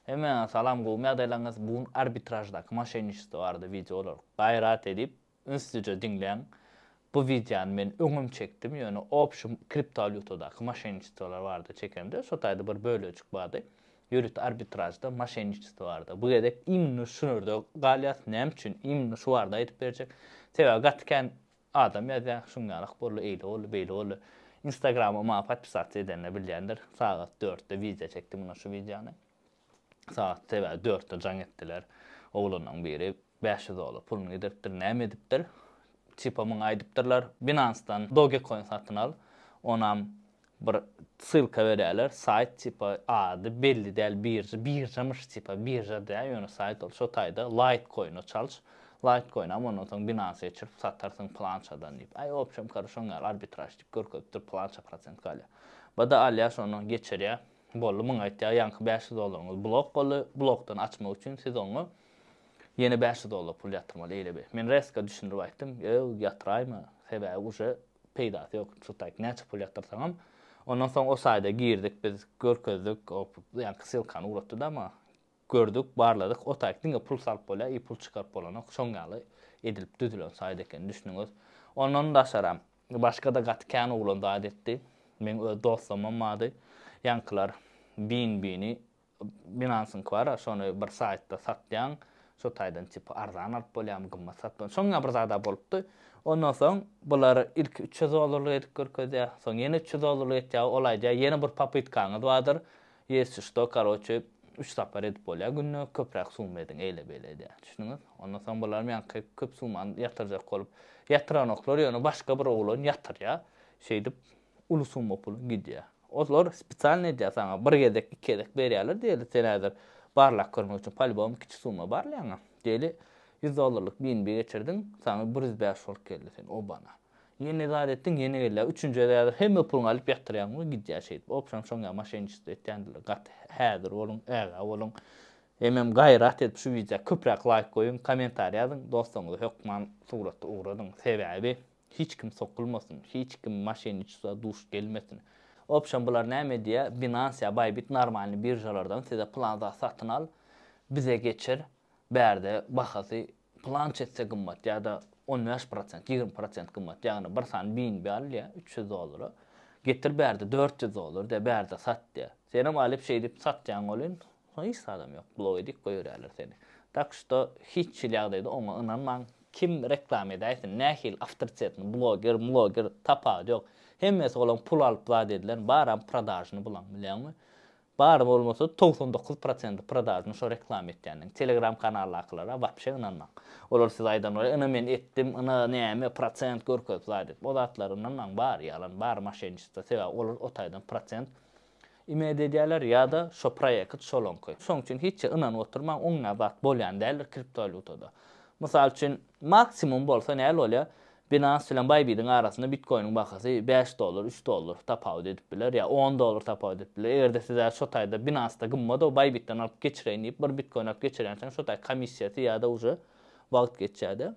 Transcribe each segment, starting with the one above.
Hemmäňe salam gowymy ýagdaýlaryňyz bu gün arbitraždaky moşenniçestvo barada wideo bolar gaýrat edip ünslice diňläň bu wideony men öňem çekdim ýöne obşym kriptowalýutadaky moşenniçestwolar barada çekemde şo taýda bir bölejik bardy ýörite arbitražda moşenniçestvo barada bu gezek immnno şunerde galýas näme üçin immnno şu barada aýdyp berjek sebäbi gaty kän Adam ýazýar, şuň ýalak boldy, eýle boldy, beýle boldy. Instagrama maňa podpisasiýa edenler bilýändir. Sagat dörtde wideo çekdim mundan şu wideony. Sagat sebä dörtde jaň etdiler. Oglanlaryň biri bäş ýüz dolar puluny gidiripdir, näme edipdir. Tipa muňa aýdypdyrlar, Binance-dan Dogecoin satyn al, onam Bir ssylka berýärler saýt tipa ady belli däl birja birjamyş tipa birja däl ýöne saýt ol şo taýda laýtkoýna çalyş laýtkoýna ama ondan soň binansa geçirip satarsyň pylançadan diýip aý opşem kary şoň ýaly arbitraž diýip görkezip dur pylança prosent galýa bada alýa şony geçirýa boldy muňa aýtýa ýaňky bäş ýüz dollaryňyz blok boldy blokdan açmak üçin siz oňa ýene bäş ýüz dollar pul ýatyrmaly eýle be men reska düşündirip aýtdym ýöw ýatyraýma sebäbi uje peýdasy ýok çutaýk näçe pul ýatyrsaňam ondan soň o saýda girdik biz görkezdik ýaňky ssylkany ugratdyda maňa gördük barladyk o taýk diňe pul salyp bolýar i pul çykaryp bolanok şoň ýaly edilip düzülen saýt ekeni düşdüňiz ondan daşaram başgada gaty kän oglan zat etdi meň öz dostlamam bardy ýaňkylar bin bini Binancyňky bar-a, şony bir saýtda satýaň, şo taýdan tipi arzan alyp bolýarmy, gymmat satup bolýarmy, şoňňa bir zad-a bolupdy. Ondan soň bular ilki üç ýüz dollarlyk edip görkezýär, soň ýene üç ýüz dollarlyk etýär, ol aýdýar, ýene bir popytkaňyz bardyr, ýesi şdo, karoçe, üç sapar edip bolýar günde, köpräk summa ediň, eýle-beýle edýär. Düşdüňiz? Ondan soň bularam ýaňky köp summany ýatyrjak bolup, ýatyranoklar, ýöne başga bir oglan ýatyrýar. Şeýdip, uly summa puluň gidýär. Olar spesialny edýär saňa, bir gezek, iki gezek berýärler diýeli, sen häzir barlap görmek üçin polýubom kiçi summa barlaýaňa. Diýeli, ýüz dollarlyk BNB geçirdiň, saňa bir ýüz bäş bolup geldi, sen obana. Ýene zat etdiň, ýene gelýär, üçünjide häzir hemme puluňy alyp ýatyrýaň we gidýär şeýdip. Opşam şoň ýaly moşenniçestvo etýändirler. Gaty häzir boluň, ägä boluň. Hemem gaýrat edip şu wideo köpräk laýk goýuň, kommentariý ýazyň, dostlaryňyza hökman suratda ugradyň. Sebäbi Hiç kim sokulmasyn, hiç kim moşenniçeswa duş gelmesin. Opşam bular näme edýä, Binance ýa Bybit normalny biržalardan size plan zat satyn al, bize geçir, bärde bahasy plança esse gymmat ýa-da on bäş prosent, ýigrimi prosent gymmat, ýagny bir sany BNB al diýä, üç ýüz dollara, getir bärde dört ýüz dollar diýä, bärde sat diýä. Senem alyp şeýdip satýaň welin, Soň hiç zadam ýok blok edip goýberýärler seni. Tak şto hiç hil ýagdaýda oňa ynanmaň kim reklama edäýsin nähili awtoritetni bloger mloger tapawudy ýok hemmesi olaň pul alyp zat edilen baram prodažny bulaň bilýäňmi bary bolmasa togsan dokuz prosendi prodažny şo reklama etýänleň telegram kanaldakylara wapşe ynanmaň olar size aýdan bolar ina men etdim ina näme prosent görkezip zat edip o zatlara ynanmaň bary ýalan bary moşenniçestvo sebäbi olar o taýdan prosent Imed edýäler ýa-da şo proýekt şolaňky. Şoň üçin hiç zat ynanyp oturmaň, oňňä zat bolýan däldir kriptowalýutada. Mysal üçin, maksimum bolsa näl bolýar, Binance bilen Bybit-iň arasynda bitkoiniň bahasy bäş dollar, üç dollar tapawut edip biler ýa on dollar tapawut edip biler. Eger-de siz hä şo taýda Binance-da gymmat-ow, Bybit-den alyp geçireýin diýip, bir bitkoin alyp geçirýänsiňiz, şo taý komissiýasy ýa-da uje wagt geçýär-de.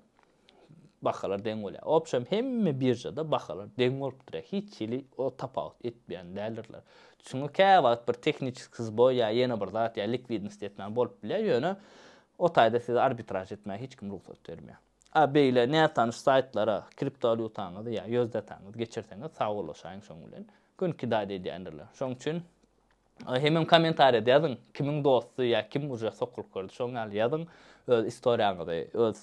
bahalar deň bolýar. Obşem hemme biržada bahalar deň bolup durýar. Hiç hili o tapawut etmeýän däldirler. Çünki käwagt bir tehniçeskiý zboý ýa ýene bir zat ýa likwidinost ýetmän bolup bilýär, ýöne o taýda size arbitraž etmäge hiç kim rugsat bermeýär. A beýle nätanyş saýtlara kriptowalýutaňyzy ýa USDT-ňyzy geçirseňiz, sag ulaşaýyň şoň bilen, günki dady edýändirler. Şoň üçin Hemem kommentariýada ýazyň kimiň dosty ýa kim uje sokulyp gördi şoň ýaly ýazyň öz istoriýaňyzy öz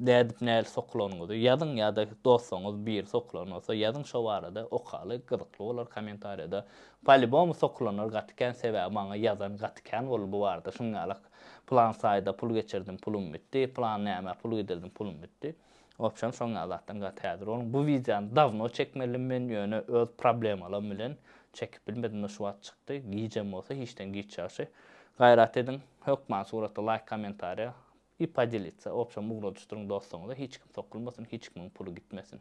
nädip näli sokulanyňyzy ýazyň ýada dostuňyz biri sokulan bolsa ýazyň şo barada okaly gyzykly bolar kommentariýada polibomy sokulanlar gaty kän sebäbi maňa ýazan gaty kän boldy bu barada şuň ýalak plan saýda pul geçirdim pulum bitdi plan nämä pul gidirdim pulum bitdi. Wobşem şoň ýaly zatdan gaty häzir boluň. Bu wideony dawno çekmelidim men, ýöne öz problemalaym bilen çekip bilmedimde şu wagt çykdy. Gijem bolsa hiçden giç ýagşy. Gaýrat ediň, hökman surata laýk kommentariýa i podelitsa. Wobşem ugradyşdyryň dostuňyza hiç kim sokulmasyn, hiç kimiň puly gitmesin.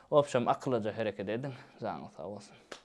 Wobşem akyllaja hereket ediň, janyňyz sag bolsun.